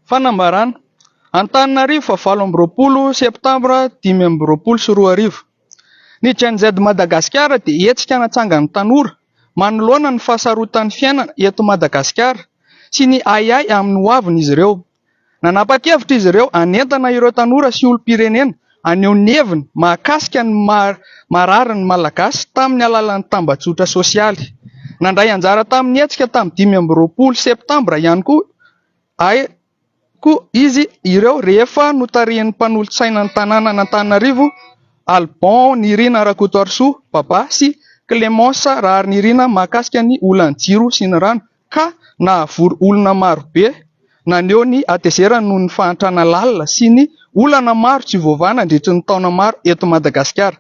Fanambarana. Antananarivo fa valo amby roapolo septambra dimy amby roapolo sy roa arivo. Ny Gen Z Madagasikara dia hetsika natsangan'ny tanora manoloana ny fahasarotan'ny fiainana eto Madagasikara sy ny ahiahy amin'ny hoavin'izy ireo. Nanapa-kevitra izy ireo hanentana ireo tanora sy olom-pirenena haneho ny heviny mahakasika ny maha marary ny Malagasy tamin'ny alalan'ny tambajotra sosialy. Nandray anjara tamin'ny hetsika tamin'ny dimy amby roapolo septambra ihany koa koa izy ireo rehefa notarihin'ny mpanolotsainan'ny tanànan'Antananarivo Alban Nirina Rakotoarisoa Baba sy Clémence Raharinirina mahakasika ny olan'ny jiro sy ny rano ka nahavory olona maro be, naneho ny hatezerany noho ny fahantrana lalina sy ny olana maro tsy voavaha nandritry ny taona maro eto Madagasikara.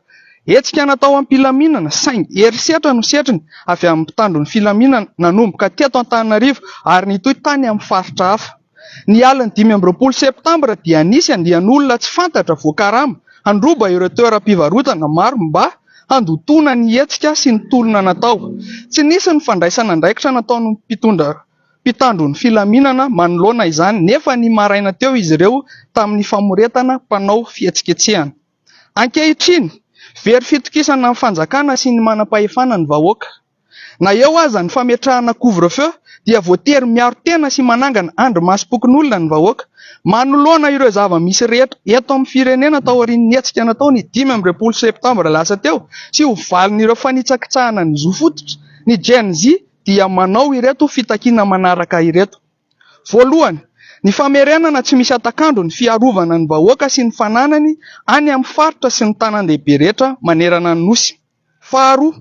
Hetsika natao am-pilaminana saingy herisetra no setriny avy amin'ny mpitandro ny filaminana nanomboka teto Antananarivo ary nitohy tany amin'ny faritra hafa. Ny alin'ny dimy amby roapolo septambra dia nisy andian'olona tsy fantatra voakarama handroba ireo toeram-pivarotana maro mba handotoana ny hetsika sy ny tolona natao. Tsy nisy ny fandraisana andraikitra nataon'ny mpitondra mpitandro ny filaminana manoloana izany nefa ny maraina teo izy ireo tamin'ny famoretana mpanao fihetsiketsehana. Ankehitriny, very fitokisana ny fanjakana sy ny manam-pahefana ny vahoaka. Na eo aza ny fametrahana couvre-feu dia voatery miaro tena sy manangana andrimasom-pokonolona ny vahoaka, manoloana ireo zava-misy rehetra eto amin'ny firenena taorian'ny hetsika natao ny dimy amby roapolo septambra lasa teo sy ho valin'ireo fanitsakitsahana ny zo fototra, ny Gen-Z dia manao ireto fitakiana manaraka ireto. Voalohany, ny famerenana tsy misy hatak'andro ny fiarovana ny vahoaka sy ny fananany any amin'ny faritra sy ny tanàn-dehibe rehetra manerana ny Nosy. Faharoa,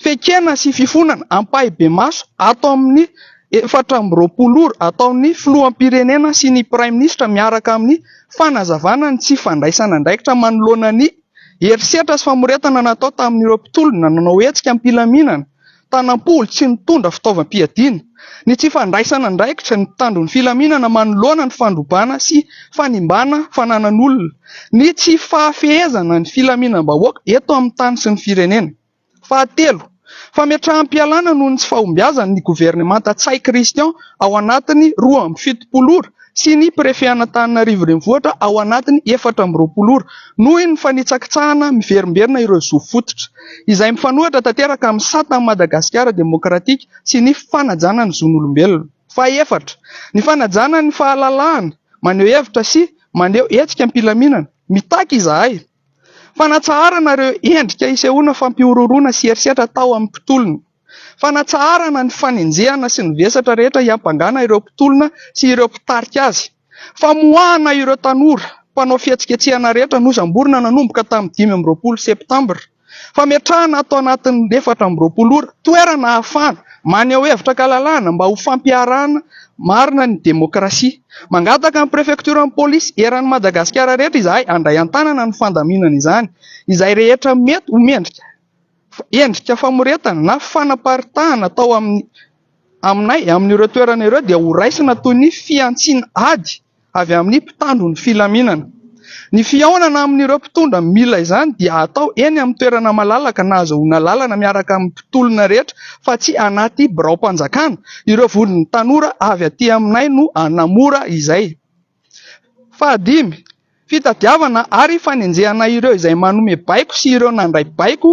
fekena sy fifonana ampahibemaso ato amin'ny efatra amby roapolo ora ataon'ny Filoham-pirenena sy ny Praiminisitra miaraka amin'ny fanazavana ny tsy fandraisana andraikitra manoloana ny herisetra sy famoretana natao tamin'ireo mpitolona nanao hetsika am-pilaminana tanam-polo tsy nitondra fitaovam-piadiana, ny tsy fandraisana andraikitra, ny mpitandro ny filaminana manoloana ny fandrobana sy fanimbana fananan'olona, ny tsy fahafehezana ny filaminam-bahoaka eto amin'ny tany sy ny firenena. Fahatelo, fametraham-pialana noho ny tsy fahombiazan'ny governemanta Ntsay Christian ao anatin'ny roa amby fitopolo ora sy ny prefean'Antananarivo Renivohitra ao anatin'ny efatra amby roapolo ora, noho ny fanitsakitsahana miverimberina ireo zo fototra, izay mifanohitra tanteraka amin'ny satan'i Madagasikara Demokratika sy ny fanajana ny zon'olombelona. Fahefatra, ny fanajana ny fahalalahana maneho hevitra sy maneho hetsika am-pilaminana. Mitaky izahay fanatsaharana ireo endrika isehoana fampihorohoroana sy herisetra atao amin'ny mpitolona. Fanatsaharana ny fanenjehana sy ny vesatra rehetra hiampangana ireo mpitolona sy ireo mpitarika azy. Famoahana ireo tanora mpanao fihetsiketsehana rehetra nosamborina nanomboka tamin'ny dimy amby roapolo septambra. Fametrahana ato anatin'ny efatra amby roapolo ora toerana ahafahana maneho hevitra an-kalalahana mba ho fampiharana marina ny demokrasia. Mangataka ny prefektioran'ny polisy eran'i Madagasikara rehetra izahay handray an-tanana ny fandaminana izany izay rehetra mety ho mendrika Endrika famoretana na fanaparitahana atao aminay amin'ireo toerana ireo dia horaisina toy ny fihantsiana ady avy amin'ny mpitandro ny filaminana. Ny fihaonana amin'ireo mpitondra mila izany dia hatao eny amin'ny toerana malalaka na azahoana lalana miaraka amin'ny mpitolona rehetra fa tsy anaty biraom-panjakana. Ireo vondron'ny tanora avy aty aminay no hanamora izay. Fahadimy, fitadiavana ary fanenjehana ireo izay manome baiko sy ireo nandray baiko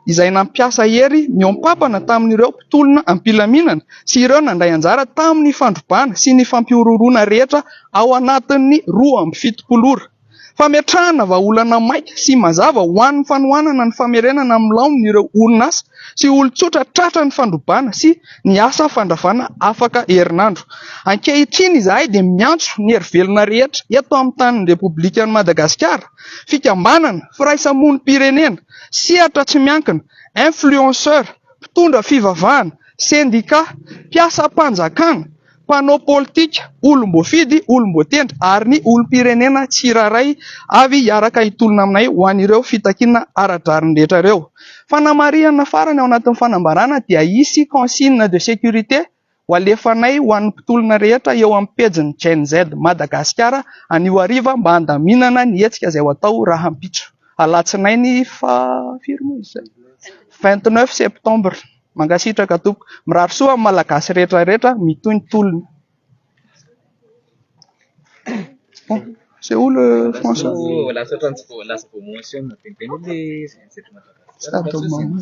izay nampiasa hery mihoam-pampana tamin'ireo mpitolona am-pilaminana sy ireo nandray anjara tamin'ny fandrobana sy ny fampihorohoroana rehetra ao anatin'ny roa amby fitopolo ora. Fametrahana vahaolana maika sy mazava ho an'ny fanohanana ny famerenana amin'ny laoniny ireo orinasa sy olon-tsotra tratran'ny fandrobana sy ny asa fandravana afaka herinandro. Ankehitriny izahay dia miantso ny hery velona rehetra eto amin'ny tanin'ny Repoblikan'i Madagasikara, fikambanana, firaisamonim-pirenena, sehatra tsy miankina, influenceurs, mpitondra fivavahana, sendika, mpiasam-panjakana, mpanao politika, olom-boafidy, olom-boatendry ary ny olom-pirenena tsirairay avy hiaraka hitolona aminay ho an'ireo fitakiana ara-drariny rehetra ireo. Fanamarihana farany ao anatin'ny fanambarana dia hisy consigne de sécurité ho alefanay ho an'ny mpitolona rehetra eo amin'ny pejin'ny Gen Z Madagasikara anio hariva mba handaminana ny hetsika izay ho atao rahampitso alatsinainy faha vingt neuf septembre. Mankasitraka tompoko. Mirary soa amin'ny Malagasy rehetra rehetra mitohy ny tolona. Bon, c'est où le français? Sady mamono.